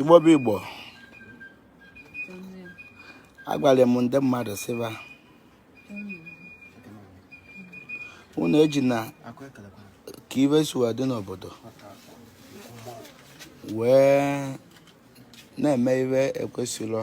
igbo bụ igbo agwara m ndị mmadụ sị ba unu ejina ka ive si wee dị n'obodo wee na-eme ive ekwesịrọ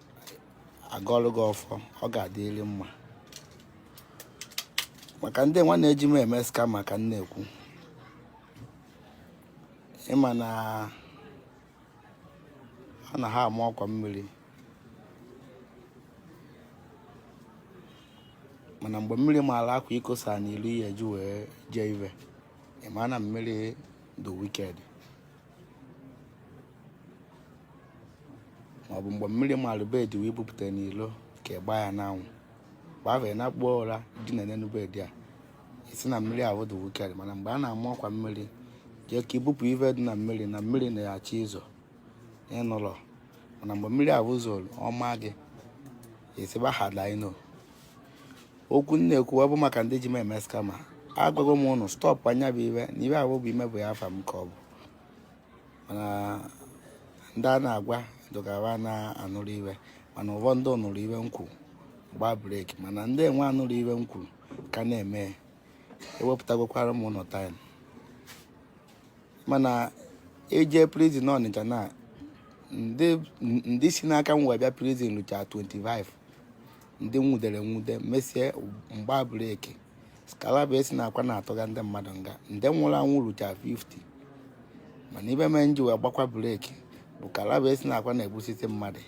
agọlụ gị ọfọ ọ ga-adịrị mma maka ndị nwa na-eji m eme scam ka m na-ekwu ị ma na ha na ha ama ọkwa mmiri mana mgbe mmiri maara akwa i kosa n'ilo ị ya-eji wee jee ive ị ma na mmiri dị wicked maọbụ mgbe mmiri malụ bed i wee bupụta n'ilo ka ị gbaa ya n'anwụ gbafee na akpụkpọ ụra dị na n'enu bed a ị sị na mmiri ahụ dị wicked mana mgbe a na-ama ọkwa mmiri jee ka i bupụ ive dị na mmiri na mmiri na-achọ izo ị nụlọ mana mgbe mmiri ahụ zoro ọ maa gị ị sị ba had I know okwu m na-ekwu ọ bụ maka ndị ji m eme scam agwago m ụnụ stọpụa nya bụ ive na ive ahụ bụ imebi afa m ka ọ bụ mana ndị a na-agwa dogara na-anụrụ ive mana ụfọdụ nụrụ ive m kwuru gbaa break mana ndị enwe anụrụ ive m kwuru ka na-eme ewepụtagokwara m ụnụ time m na-eje prison ọnịcha na ndị si n'aka m wee bịa prison lucha 25 ndị nwudere nwude mesie m gbaa break skalaba esi na akwa na-atụga ndị mmadụ nga ndị nwụrụ anwụ rucha 50 mana ive mee m ji wee gbakwa break bụ kalaba esi na akwa na-egbusi mmadụ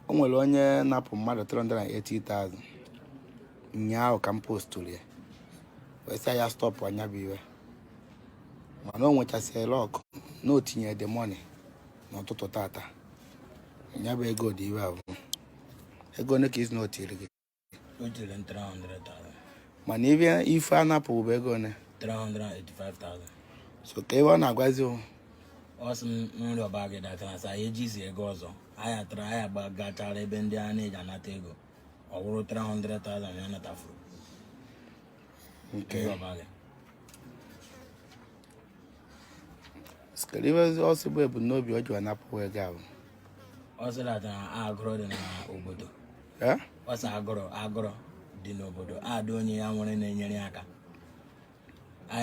o nwere onye napụ mmadụ 380,000 ụnyaahụ ka m postụrụ ya wee sị ya stọpụa nya bụ ive mana o nwechasịrị luck na o tinyere the money n'ụtụtụ tata ya bụ ego dị ive abụ ego one ka ị sị na o tiri gị O tiri m 300,000. mana ife a napụ bụ ego one 385,000. so kee ive ọ na-agwazi o Ọ sị m rịọba gị datara sị ya ejizi ego ọzọ. Anyị atara ya agachara ebe ndị a na-eji anata ego. Ọ wụrụ 300,000 ya natafuru. ka m rịọba gị. so kee ive ọ sị bụ ebumnobi o ji wee napụ ego ahụ ọ sị that agụrụ dị n'obodo Eh? ọ sị agụrụ agụrụ dị n'obodo adị onye ya nwere na-enyere ya aka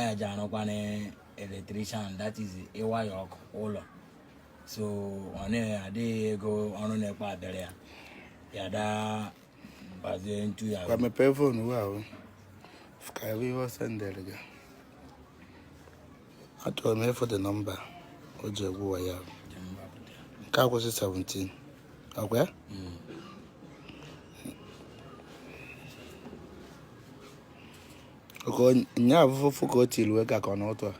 ya ji arụkwa na electrician that is ịwaya ọkụ ụlọ so ọ na-adịghị ego ọrụ na-ekpe abịara ya ya daa Kwa mepee fonu wee fụkwa ihe o sendere gị achọrọ m ịfụ the nọmba o ji egwu wa ya nke akwụsị 17 ọkwa ya oke nya afụfụ ka o tiri wee ka ka ọ n'ụtụ a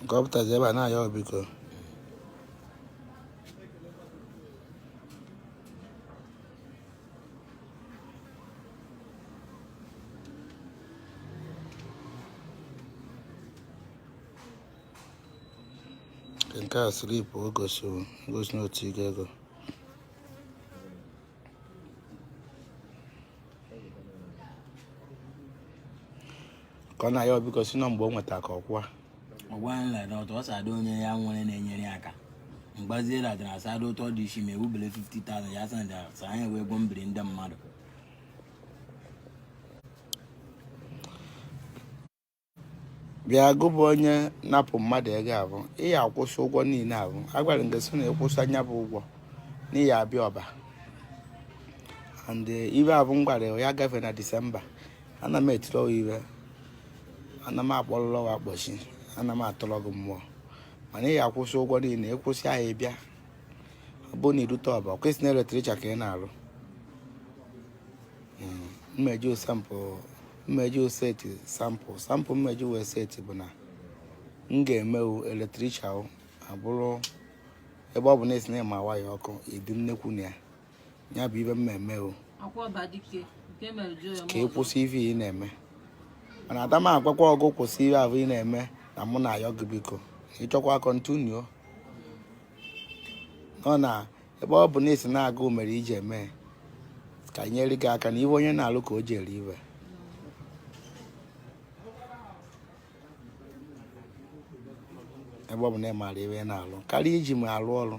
nke ọ pụtazi ebe a na-ayọ biko nke a slip o gosiri gosi na otu ego ego ka ọ na-ayọ biko sị na mgbe o nweta ka ọkwa ọgwa nla na ọtọ ọsa adị onye ya nwere na-enyere ya aka mgbazie ladị na asa ada ụtọ dị isi ma ewubele 50,000 ya sanda sa anyị wee gwọ mbiri ndị mmadụ bịa gụ bụ onye napụ mmadụ ego a bụ ị ya-akwụsị ụgwọ niile a bụ agwara m gị sị na ị kwụsịa nya bụ ụgwọ na ị ya-abịa Ọba and eh, ive a bụ m gwara ya gafee na Disemba ana m etiri ọwa ive ana m akpọrọrọ ọwa akpọchi ana m atụrọ gị mmụọ mana ị ya-akwụsị ụgwọ niile ị kwụsịa ị bịa ọ bụrụ na i rute Ọba kwesị na eletrik ka ị na-arụ mmeji osampụ mmeji o set example example mmeji wee set bụ na m ga-emewu electrical abụrụ ebe ọ bụ na ị sị na ị ma waya ọkụ ịdị nnekwu na ya ya bụ ive mmemme o ka ị kwụsị ife ị na-eme mana adama agwakwa gụ kwụsị ihe ahụ ị na-eme na mụ na-ayọ gị biko ị chọkwa continue nọ na ebe ọ bụ na ị sị na agụụ mere i ji eme ka nyere gị aka na ive onye na-alụ ka o ji eri ive ebe ọ bụ na ị maara ive na-alụ karịa iji m alụ ọrụ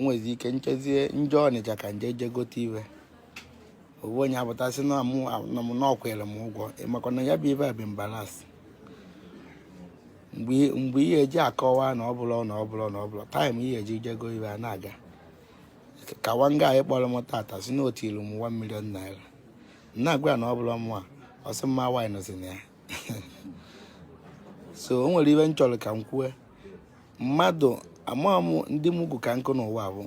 nwezi ike nchezie nje Ọnịcha ka nje je gote ive ọ wụ onye apụta sị na mụ na m na ọ kwụrụ m ụgwọ ị makwa na ya bụ ive a bụ balance mgbe ihe eji akọwa na ọ bụla na ọ bụla na ọ bụla taịm ihe eji jego ive a na-aga ka wanga anyị kpọrọ m tata sị na ọ tụrụ m 1 million naira na-agwa na ọ bụla mụ a ọsị mma wine nọzi na ya so o nwere ive m chọrọ ka m kwue mmadụ amaghị m ndị mugwu ka nkụ n'ụwa bụ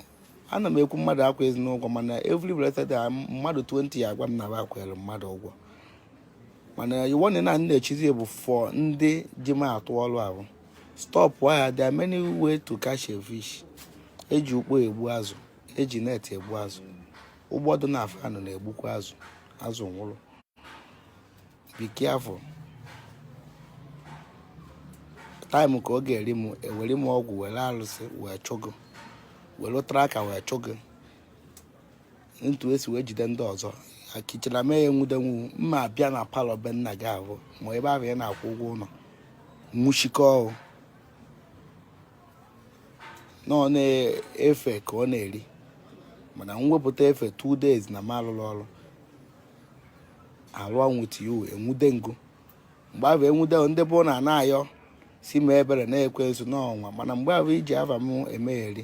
ana m ekwu mmadụ akwụzina ụgwọ mana every blessed day mmadụ 20 ya agwa m na ba kwụrụ mmadụ ụgwọ mana iwu na na na-echizi bụ for ndị ji m atụ ọrụ ahụ stop ya there are many way to catch a fish eji ukpo egbu azụ eji net egbu azụ ụgbọ dị na afọ anụ na-egbukwa azụ azụ nwụrụ be careful time ka ọ ga-eri m ewere m ọgwụ were alụsị wee chụ gụ were tracker wee chụ gụ etu esi wee jide ndị ọzọ akichara mee ya nwude gụ mma abịa na parlour be nna gị ahụ ma ebe ahụ ya na-akwụ ụgwọ ụlọ nwụchikọ na ọ na-efe ka ọ na-eri mana m wepụta efe 2 days na m alụrọ ọrụ alụ ọnwụ tiu enwude m gụ mgbe ahụ enwude ndị ọbụna a na-ayọ sị mee ebere na ekwensu nọ ụwa mana mgbe ahụ iji afa m emegheri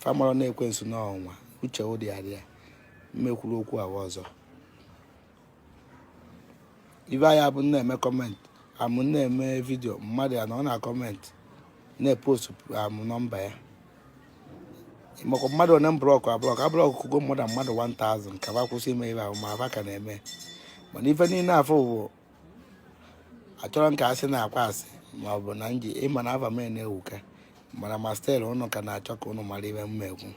fa amarọ na ekwensu nọ ụwa uche ụdị adịa mma ekwuru okwu ahụ ọzọ ibe anyị abụ na-eme comment amụ na-eme video mmadụ ya anọ na comment na-epost amụ number ya ị makwa mmadụ one m blọkụ ablọkụ ablọkụgo m more than mmadụ 1000 ka ba kwụsị ime ife ahụ ma ba ka na-eme mana ife niile afụ bụ achọrọ m ka asị na-akwa asị ma ọ bụ na nji ịma na ava m na-ewuka mana ma still ụnụ ka na-achọ ka ụnụ mara ife mma ekwu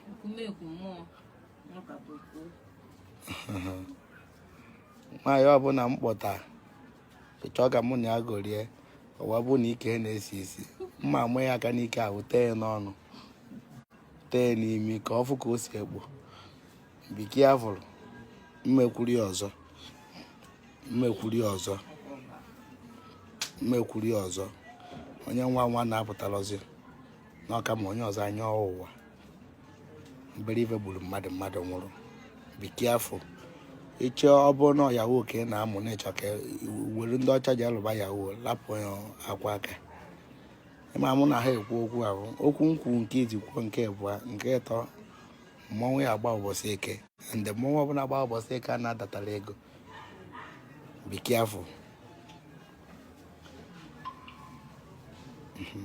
nwaanyị ọbụla m kpọta ị chọọ ka mụ na ya gorie ọwa bụ na ike na-esi isi mma ama ya aka n'ike ahụ tee ya n'ọnụ tee ya n'imi ka ọ fụ ka o si ekpo be careful mma ekwuru ya ọzọ mma ekwuru ya ọzọ mma ekwuru ya ọzọ onye nwa nwa na-apụtalọzi n'ọka ma onye ọzọ anya ọwụwa mbere ife gburu mmadụ mmadụ nwụrụ be careful ịchọ ọ bụrụ na yahoo ka ị na-amụ na ị chọ ka were ndị ọcha ji alụba yahoo lapụ ya ọ kwa ka ị ma mụ na ha ekwu okwu ahụ okwu m kwuo nke izizi kwuo nke abụọ nke ịtọ mmọnwụ ya agba ụbọchị eke ndị mmọnwụ ọbụla gba ụbọchị eke a na-adatara ego be careful mhm.